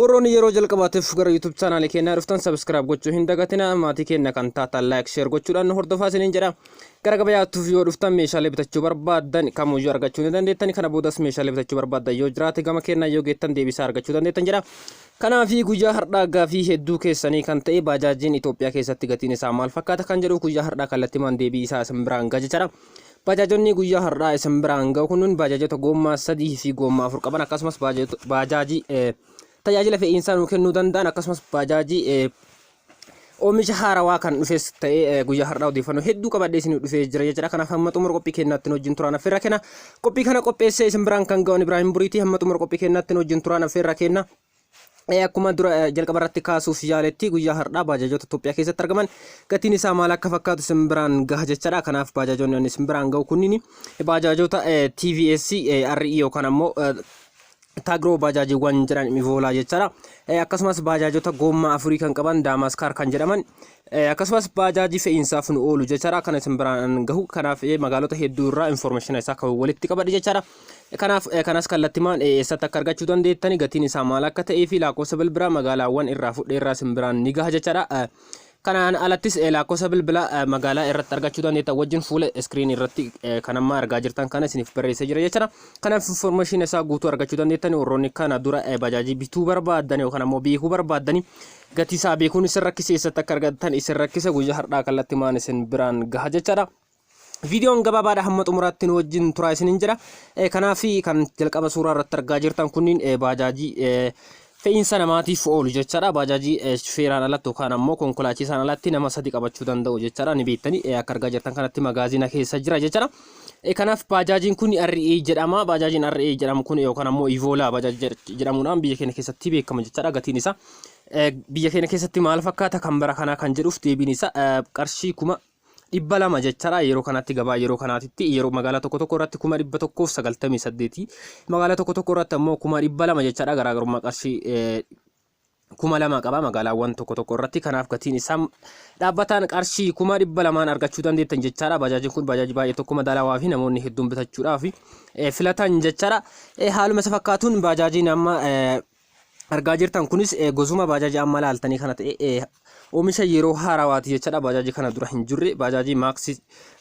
Warroonni yeroo jalqabaatiif gara YouTube chaanaalii keenyaa dhuftan subscribe gochuu hin dagatina maatii keenya kan taatan like share gochuudhaan nu hordofaa isiniin jedha. Gara gabayaattuuf yoo dhuftan meeshaalee bitachuu barbaaddan kamuyyuu argachuu ni dandeettan kana boodas meeshaalee bitachuu barbaaddan yoo jiraate gama keenyaa yoo geettan deebisaa argachuu dandeettan jedha. Kanaafi guyyaa har'aa gaafii hedduu keessanii kan ta'e baajaajiin Itoophiyaa keessatti gatiin isaa maal fakkaata kan jedhu guyyaa har'aa kallattimaan deebii isaa isin biraan ga'a jechaadha. Baajaajonni guyyaa har'aa isin biraan ga'u kunniin baajaajota goommaa sadii fi goommaa afur qaban akkasumas baajaajii tajaajila fe'iinsaa nuu kennuu danda'an akkasumas baajaajii oomisha haarawaa kan dhufes ta'ee guyyaa har'aa odeeffannoo hedduu qabadhee isin dhufee jira jechuudha. Kanaaf hamma xumura qophii keenyaatti wajjin turaan affeerra kenna. Qophii kana qopheessee isin biraan kan ga'u Ibraahim Buriitii hamma xumura qophii keenyaatti wajjin turaan affeerra kenna. Ee, Akkuma dura eh, jalqaba irratti kaasuuf yaaletti guyyaa har'aa baajaajoota Itoophiyaa keessatti argaman gatiin isaa maal akka fakkaatu isin biraan gaha jechaadha. Kanaaf baajaajoonni ani isin biraan gahu kunniin baajaajoota eh, TVS, eh, RE yookaan ammoo eh, Taagroo baajaajiiwwan jedhan Mivoolaa jechaadha. Eh, Akkasumas baajaajota goommaa afurii kan qaban Daamaskaar kan jedhaman eh, akkasumas baajaajii fe'iinsaaf nu oolu jechaadha. Kan isin biraan gahu kanaaf eh, magaalota hedduu irraa informeeshina isaa kan walitti qabadhe jechaadha. Kanaaf kanas kallattimaan eessatti akka argachuu dandeettani gatiin isaa maal akka ta'ee fi laakkoofsa bilbilaa magaalaawwan irraa fudhe irraa sin biraan ni gaha jechaadha. Kanaan alattis laakkoofsa bilbilaa magaalaa irratti argachuu dandeettan wajjin fuula iskiriinii irratti kan amma argaa jirtan kana isiniif barreessee jira jechaadha. Kanaaf information isaa guutuu argachuu dandeettani warroonni kana dura bajaajii bituu barbaaddan yookaan ammoo beekuu barbaaddani gatii isaa beekuun isin rakkise eessatti akka argattan isin rakkise guyyaa har'aa kallattimaan isin biraan gaha jechaadha. Viidiyoon gabaabaadha hamma xumuraatti nu wajjin turaa isinin jedha. Eh, Kanaaf kan jalqaba suuraa irratti argaa jirtan kunniin eh, baajaajii eh, fe'iinsa namaatiif oolu jechaadha. Baajaajii eh, shufeeraan alatti yookaan ammoo konkolaachisaan alatti nama sadi qabachuu danda'u jechaadha. Ni beektanii eh, akka argaa jirtan kanatti magaaziina keessa jira jechaadha. Eh, Kanaaf baajaajiin kun RA jedhama. Baajaajiin RA jedhamu kun yookaan ammoo Ivoolaa baajaajii jedh- jedhamuudhaan biyya keenya keessatti beekama jechaadha. Gatiin isaa eh, biyya keenya keessatti maal fakkaata kan bara kanaa kan jedhuuf deebiin isaa eh, qarshii kuma dhibba lama jechaadha yeroo kanatti gabaa yeroo kanaatitti yeroo magaalaa tokko tokko irratti kuma dhibba tokkoof sagaltamii saddeeti magaalaa tokko tokko irratti ammoo kuma dhibba lama jechaadha garaagarummaa qarshii eh, kuma lama qaba magaalaawwan tokko tokko irratti kanaaf gatiin isaa dhaabbataan qarshii kuma dhibba lamaan argachuu dandeettan jechaadha bajaajin kun bajaajii baay'ee tokko madaalawaa fi namoonni hedduun bitachuudhaaf eh, filatan jechaadha Eh, haaluma isa fakkaatuun bajaajiin amma eh, argaa jirtan kunis eh, gosuma baajaajii amma laaltanii kana ta'e eh, oomisha yeroo haarawaati jechaadha baajaajii kana dura hin jirre baajaajii maaksi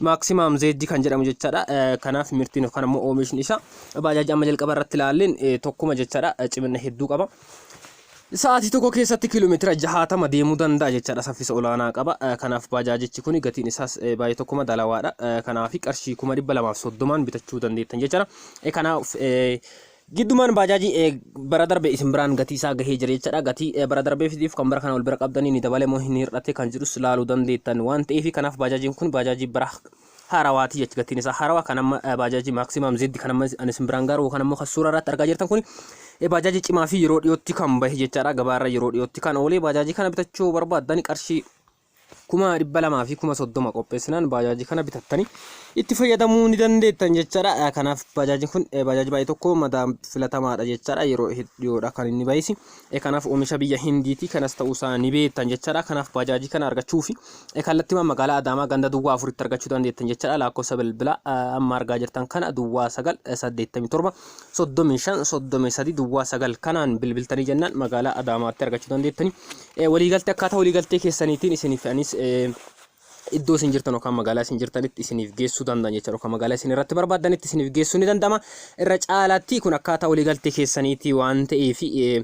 maaksimaam zeejji kan jedhamu jechaadha Eh, kanaaf mirtiin yookaan ammoo oomishni isaa baajaajii amma jalqaba irratti laalleen eh, tokkuma jechaadha Eh, cimina hedduu qaba. Sa'aatii tokko keessatti kiiloomeetira jahaatama deemuu danda'a jechaadha saffisa olaanaa qaba. Eh, Kanaaf baajaajichi kun gatiin isaas eh, baay'ee tokkuma dalawaadha. Eh, Kanaaf qarshii kuma dhibba lamaaf soddomaan bitachuu dandeettan jechaadha. Eh, Kanaaf eh, Giddumaan baajaajii eh, bara darbe isin biraan gatii isaa gahee jira jechaadha. Gatii eh, bara darbee fidiif kan bara kana wal bira qabdanii ni dabale moo hin hir'ate kan jedhus laaluu dandeettan waan ta'eef kanaaf baajaajiin kun baajaajii bara haarawaati jecha gatiin isaa haarawaa kan amma eh, baajaajii maaksimaam zeddi kan amma ani isin biraan gaaru kan ammoo kan suuraa irratti argaa jirtan kun eh, baajaajii cimaa fi yeroo dhiyootti kan bahe jechaadha. Gabaa irra yeroo dhiyootti kan oolee baajaajii kana bitachuu barbaaddan qarshii kuma dhibba lamaa fi kuma soddoma qopheessinaan baajaajii kana bitattanii itti fayyadamuu ni dandeettan jechaadha. Kanaaf baajaajiin kun baajaajii baay'ee tokko madaa filatamaadha jechaadha. Yeroo hedduudha kan inni baay'isi. Kanaaf oomisha biyya Hindiiti kanas ta'uu isaa ni beektan jechaadha. Kanaaf baajaajii kana argachuu fi kallattimaan magaalaa Adaamaa ganda duwwaa afuritti argachuu dandeettan jechaadha. Lakkoofsa bilbila amma argaa jirtan kana duwwaa sagal saddeettamii torba soddomii shan soddomii sadii duwwaa sagal kanaan bilbiltanii jennaan magaalaa Adaamaatti argachuu dandeettanii Eh, waliigaltee akkaataa waliigaltee keessaniitiin isiniif anis eh, iddoo isin jirtan yookaan magaalaa isin jirtanitti isiniif geessuu danda'an jechuudha yookaan magaalaa isin irratti barbaadanitti isiniif geessuu ni danda'ama irra caalaatti kun akkaataa waliigaltee keessaniitii waan ta'eef eh,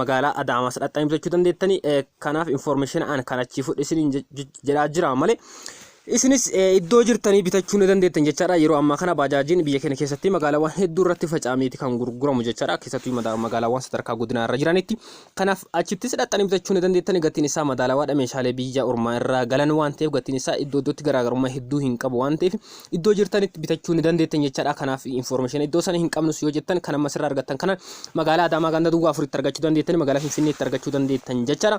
magaalaa Adaamaas dhaqxanii bitachuu dandeettanii eh, kanaaf information an kan achii fudhe isiniin je- je- jedhaa jira malee Isinis iddoo jirtanii bitachuu ni dandeettan jechaadha. Yeroo ammaa kana baajaajiin biyya keenya keessatti magaalaawwan hedduu irratti faca'ameeti kan gurguramu jechaadha. Keessattuu mada- magaalaawwan sadarkaa godinaa irra jiranitti. Kanaaf achittis dhaqxanii bitachuu ni dandeettani. Gatiin isaa madaalawaadha. Meeshaalee biyya ormaa irraa galan waan ta'eef gatiin isaa iddoo iddootti garaagarummaa hedduu hin qabu waan ta'eef iddoo jirtanitti bitachuu ni dandeettan jechaadha. Kanaaf information iddoo sana hin qabnus yoo jettan kan amma sirraa argattan kana magaalaa Adaamaa ganda duwwaa afuritti argachuu dandeettani. Magaalaa Finfinneetti argachuu dandeettan jechaadha.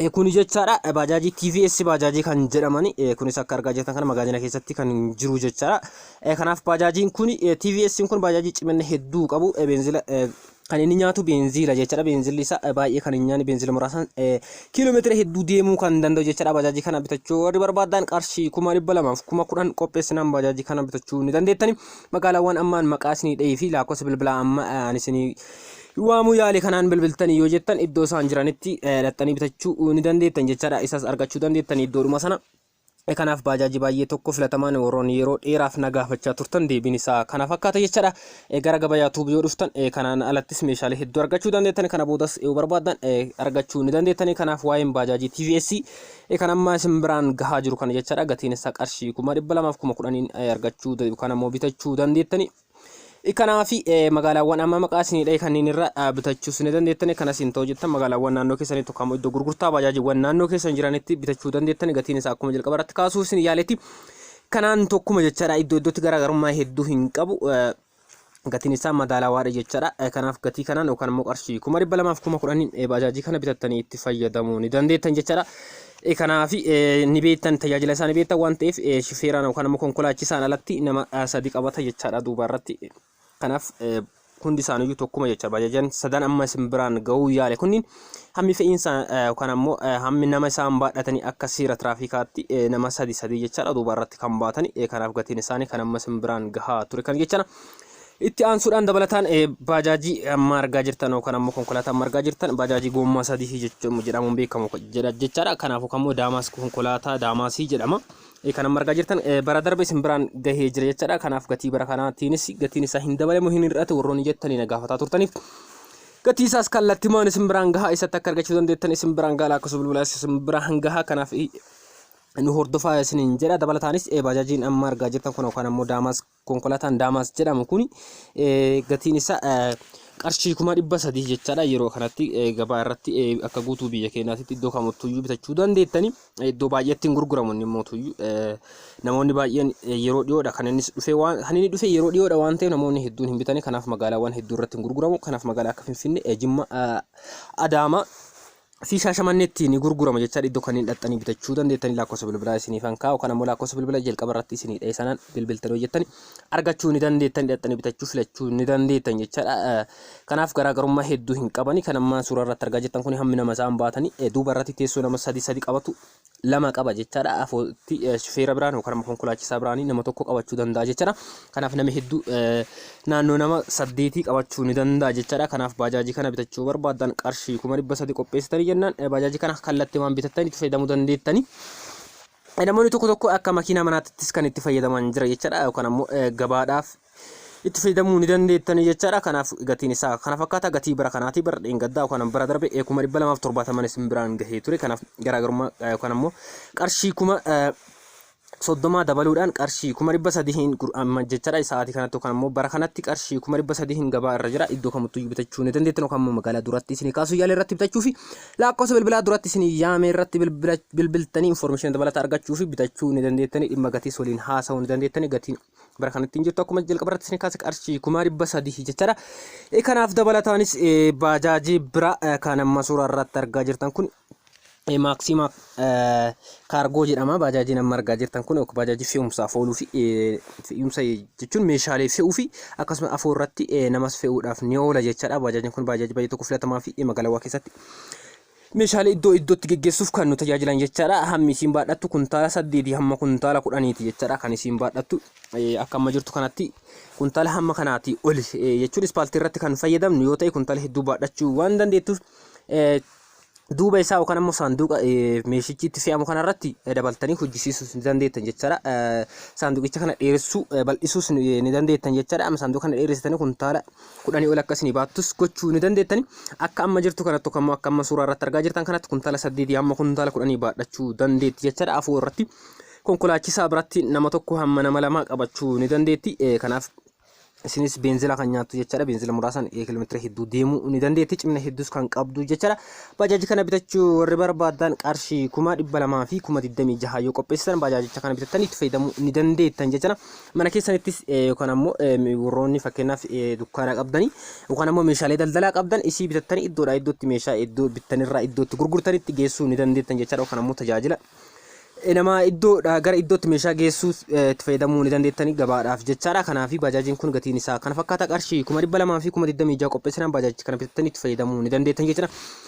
Eh, Kuni jechaadha eh, baajaajii TVS baajaajii kan jedhamani eh, kunis akka argaa jirtan kana magaazina keessatti kan jiru jechaadha. Eh, Kanaaf baajaajiin kuni eh, TVS kun baajaajii cimina hedduu qabu eh, beenzila eh, kan inni nyaatu beenziila jechaadha. Beenzilli isaa eh, baay'ee kan hin nyaanne beenzila muraasaan eh, kiiloomeetira hedduu deemuu kan danda'u jechaadha. Baajaajii kana bitachuu warri barbaadan qarshii kuma dhibba lamaaf kuma kudhan qopheessinaan baajaajii kana bitachuu ni dandeettani. Magaalaawwan ammaan maqaa isinii dhahee fi lakkoofsa bilbilaa amma eh, ani isinii waamuu yaale kanaan bilbiltanii yoo jettan iddoo isaan jiranitti eh, dhaqxanii bitachuu ni dandeettan jechaadha isas argachuu dandeettan iddoodhuma sana Eh, kanaaf baajaajii baay'ee tokko filatamaan warroonni yeroo dheeraaf na gaafachaa turtan deebiin isaa kana fakkaata jechaadha Eh, gara gabayaa tuubii yoo dhuftan eh, kanaan alattis meeshaalee hedduu argachuu dandeettan kana boodas yoo barbaaddan eh, argachuu ni dandeettanii kanaaf waa'een baajaajii TVS eh, kan ammaa isin biraan gahaa jiru kana jechaadha gatiin isaa qarshii kuma dhibba lamaaf kuma kudhaniin eh, argachuu da- yookaan ammoo bitachuu dandeettanii Kanaaf magaalaawwan amma maqaa isinii dha'e kanneen irra bitachuus ni dandeettan kan asiin ta'u jettan magaalaawwan naannoo keessanitti yookaan iddoo gurgurtaa baajaajiiwwan naannoo keessan jiranitti bitachuu dandeettan gatiin isaa akkuma jalqaba irratti kaasuu isin yaaletti kanaan tokkuma jechaadha iddoo iddootti garaagarummaa hedduu hin qabu gatiin isaa madaalawaadha jechaadha kanaaf gatii kanaan yookaan immoo qarshii kuma dhibba lamaaf kuma kudhaniin baajaajii kana bitattanii itti fayyadamuu ni dandeettan jechaadha Kanaaf ni beektan tajaajila isaa ni beektan waan ta'eef shifeeraan yookaan ammoo konkolaachisaan alatti nama sadi qabata jechaadha duuba irratti. Kanaaf hundi isaaniiyyuu tokkuma jecha bajajan sadan amma isin biraan ga'uu yaale kunniin hammi fe'iinsa yookaan ammoo hammi nama isaan baadhatanii akka seera tiraafikaatti nama sadi sadii jechaadha duuba irratti kan baatanii kanaaf gatiin isaanii kan amma isin biraan gahaa ture kan jechana. Itti aansuudhaan dabalataan eh, baajaajii amma argaa jirtan yookaan ammoo konkolaataa amma argaa jirtan baajaajii goommaa sadii jechuun jedhamuun beekamu jedha jechaadha. Kanaafuu kan immoo daamaas konkolaataa daamaasii jedhama. Eh, Kan amma argaa jirtan eh, bara darbe isin biraan gahee jira jechaadha. Kanaaf gatii bara kanaatiinis gatiin isaa hin dabalamu hin hir'atu warroonni jettanii na gaafataa turtaniif. Gatii isaas kallattimaan isin biraan gahaa isatti akka argachuu dandeettan isin biraan gahaa lakkoofsa bilbilaa isin biraan gahaa kanaaf nu hordofaa isiniin jedha dabalataanis eh, baajaajiin amma argaa jirtan kun yookaan ammoo daamaas Konkolataan Daamaas jedhamu kun gatiin isaa qarshii kuma dhibba sadii jechaadha yeroo kanatti gabaa irratti akka guutuu biyya keenyaatti iddoo kamittuyyuu bitachuu dandeettani iddoo baay'eetti hin gurguramu inni mootuyyuu namoonni baay'een yeroo dhiyoodha kan innis dhufe waan kan inni dhufe yeroo dhiyoodha waan ta'eef namoonni hedduun hin bitani kanaaf magaalaawwan hedduu irratti hin gurguramu kanaaf magaalaa akka Finfinnee Jimma Adaama fi Shaashamanneetti ni gurgurama jechaadha. Iddoo kanneen dhaxxanii bitachuu dandeettanii lakkoofsa bilbilaa isiniifan kaa'u. Kan ammoo lakkoofsa bilbila jalqaba irratti isinii dha'e sanaan bilbiltan hojjettanii argachuu ni dandeettanii dhaxxanii bitachuu filachuu ni dandeettan jechaadha. Kanaaf garaagarummaa hedduu hin qabani. Kan ammaan suuraa irratti argaa jirtan kun hammi nama isaan baatanii duuba irratti teessoo nama sadi sadi qabatu lama qaba jechaadha. Afootti shufeera biraan yookaan konkolaachisaa biraan nama tokko qabachuu danda'a jechaadha. Kanaaf nama hedduu naannoo nama saddeetii qabachuu ni danda'a jechaadha. Kanaaf baajaajii kana bitachuu barbaadan qarshii kuma dhibba sadii qopheessitanii jennaan baajaajii kana kallattii waan bitattanii itti fayyadamuu dandeettanii. Namoonni tokko tokko akka makiinaa manaattis kan itti fayyadaman jira jechaadha yookaan ammoo gabaadhaaf itti fayyadamuu ni dandeettanii jechaadha. Kanaaf gatiin isaa kana fakkaata. Gatii bara kanaatii bara dheengaddaa yookaan bara darbe eh, kuma dhibba lamaaf torbaataman isin biraan gahee ture. Kanaaf garaagarummaa eh, yookaan ammoo qarshii kuma eh, soddomaa dabaluudhaan qarshii kuma dhibba sadihiin gur- amma jechaadha sa'aatii kanatti yookaan ammoo bara kanatti qarshii kuma dhibba sadihiin gabaa irra jira iddoo kamittuu iyyuu bitachuu ni dandeettan yookaan ammoo magaalaa duratti isinii kaasuu yaala irratti bitachuu fi lakkoofsa bilbilaa duratti isinii yaame irratti bilbila- bilbiltanii informeeshinii dabalataa argachuu fi bitachuu ni dandeettanii dhimma gatiis waliin haasa'uu ni dandeettanii gatiin bara kanatti hin jirtu akkuma jalqaba irratti isin kaase qarshii kuma dhibba sadii jechaadha. Eh, Kanaaf dabalataanis eh, baajaajii bira eh, kan amma suuraa irratti argaa jirtan kun eh, maaksiima eh, kaargoo jedhama. Baajaajiin amma argaa jirtan kun yookiin baajaajii fe'umsaaf ooluu fi eh, fe'umsa jechuun meeshaalee fe'uu fi akkasumas afoo irratti eh, namas fe'uudhaaf ni oola jechaadha. Baajaajiin kun baajaajii baay'ee tokko filatamaa fi eh, magaalaawaa keessatti Meeshaalee iddoo iddootti geggeessuuf kan nu tajaajilan jechaadha. Hammi isiin baadhattu kuntaala saddeetii hamma kuntaala kudhaniiti jechaadha kan isiin baadhattu. Akka amma jirtu kanatti kuntaala hamma kanaati oli jechuun ispaaltii irratti kan fayyadamnu yoo ta'e kuntaala hedduu baadhachuu waan dandeettuuf duuba isaa yookaan ammoo saanduqa meeshichi itti fe'amu kanarratti dabaltanii hojjisiisuus ni dandeettan jechaadha. Saanduqicha kana dheeressuu bal'isuus ni dandeettan jechaadha. Amma saanduqa kana dheeressitanii kuntaala kudhanii ol akka isinii baattus gochuu ni dandeettani. Akka amma jirtu kanatti yookaan immoo akka amma suuraa irratti argaa jirtan kanatti kuntaala saddeetii hamma kuntaala kudhanii baadhachuu dandeetti jechaadha. Afoo irratti konkolaachisaa biratti nama tokko hamma nama lamaa qabachuu ni dandeetti. Eh, Kanaaf isinis beenzila kan nyaattu jechaadha. Beenzila muraasan eh, kiiloomeetira hedduu deemuu ni dandeetti. Cimina hedduus kan qabdu jechaadha. Baajaaji kana bitachuu warri barbaadan qarshii kuma dhibba lamaa fi kuma digdamii jaha yoo qopheessitan baajaajicha kana bitattanii itti fayyadamuu ni dandeettan jechaadha. Mana keessanittis yookaan ammoo warroonni fakkeenyaaf dukkaana qabdanii yookaan ammoo meeshaalee daldalaa qabdan isii bitattanii iddoodhaa iddootti meeshaa iddoo bittanirraa iddootti gurgurtanitti geessuu ni dandeettan jechaadha yookaan ammoo tajaajila nama iddoodhaa gara iddootti meeshaa geessuu itti fayyadamuu ni dandeettanii gabaadhaaf jechaadha. Kanaaf baajaajiin kun gatiin isaa kana fakkaata qarshii kuma dhibba lamaa fi kuma digdamii ja'a qopheessinaan baajaajicha kana bitattanii itti fayyadamuu ni dandeettan jechaadha.